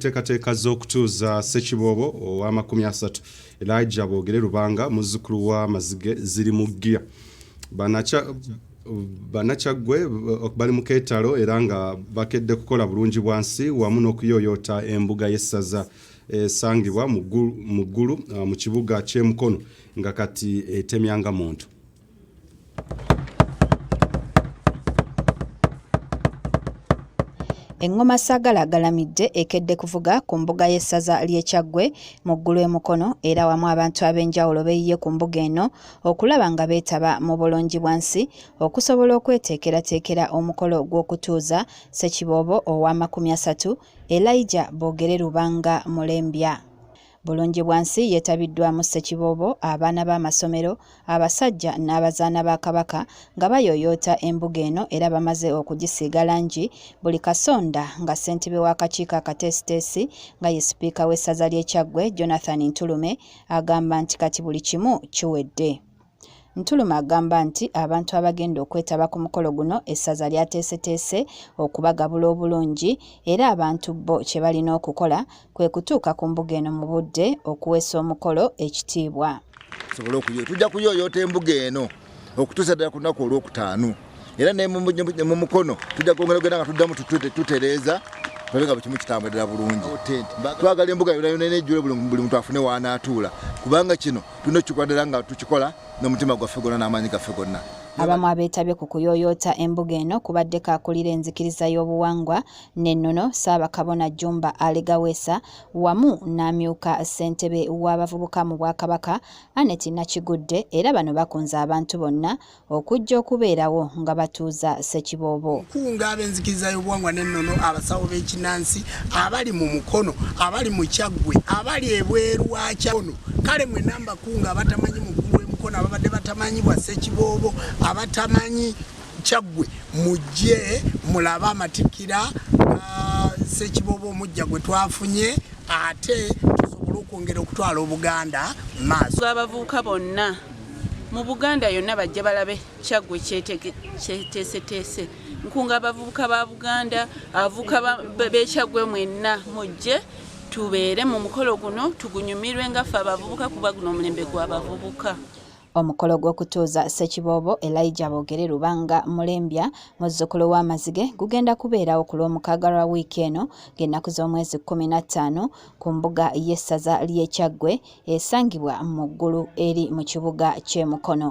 Teekateeka z'okutuuza Ssekiboobo ow'amakumi asatu Elijah Boogere Lubanga muzzukulu wa Mazige ziri mu ggiya. Bannakyaggwe bali mu keetalo era nga bakedde kukola bulungi bwansi wamu n'okuyooyoota embuga y'essaza esangibwa mu Ggulu mu kibuga ky'e Mukono nga kati etemya nga muntu. Engoma Sagala galamidde ekedde kuvuga ku mbuga y'essaza ly'e Kyaggwe mu ggulu e Mukono era wamu abantu ab'enjawulo beeyiye ku mbuga eno okulaba nga beetaba mu bulungibwansi okusobola okweteekerateekera omukolo gw'okutuuza Ssekiboobo ow'amakumi asatu Elijah Boogere Lubanga Mulembya. Bulungibwansi yeetabiddwamu Ssekiboobo, abaana b'amasomero, abasajja n'abazaana ba Kabaka nga bayooyoota embuga eno era bamaze okugisiiga langi buli kasonda nga ssentebe w'akakiiko akateesiteesi nga ye sipiika w'essaza ly'e Kyaggwe Jonathan Ntulume agamba nti kati buli kimu kiwedde. Ntuluma agamba nti abantu abagenda okwetaba ku mukolo guno essaza lyateeseteese okubagabula obulungi era abantu bo kye balina okukola kwe kutuuka ku mbuga eno mu budde okuweesa omukolo ekitiibwa. Tujja kuyooyoota embuga eno okutuusa ddala ku lunaku olwokutaano. era ne mu mukono tujja kwongera ogenda nga tuddamu tutereeza tulabe nga bukimu kitambulira bulungi twagala embuga yonayona nejjule buli muntu afune waanaatuula kubanga kino tulina okukikola ddala nga tukikola n'omutima gwaffe gonna n'amaanyi gaffe gonna abamu abeetabye ku kuyooyoota embuga eno kubaddeko akulira enzikiriza y'obuwangwa n'ennono ssaabakabona jumba alegawesa wamu n'amyuka ssentebe w'abavubuka mu bwakabaka anet nakigudde era bano bakunze abantu bonna okujja okubeerawo nga batuuza ssekiboobo nkunga ab'enzikiriza y'obuwangwa n'ennono abasawo b'ekinansi abali mu mukono abali mu kyaggwe abali ebweru wa kyakono kale mwe namba kunga abatamanyi mukulu w'emukono ababadde batamanyi bwa ssekiboobo abatamanyi kyaggwe mujje mulabe amatikira ah, ssekiboobo omujja gwe twafunye ate tusobole okwongera okutwala obuganda maaso abavubuka bonna Mu Buganda yonna bajja balabe Kyaggwe kyeteeseteese. Nkunga abavubuka ba Buganda, abavubuka b'e Kyaggwe mwenna mujje tubeere mu mukolo guno tugunyumirwe nga ffe abavubuka kuba guno omulembe gw'abavubuka omukolo gw'okutuuza ssekiboobo elijah boogere lubanga mulembya muzzukulu w'amazige gugenda kubeerawo ku lw'omukaaga lwa wiiki eno ng'ennaku z'omwezi kkumi na ttaano ku mbuga y'essaza ly'e Kyaggwe esangibwa mu ggulu eri mu kibuga ky'e Mukono.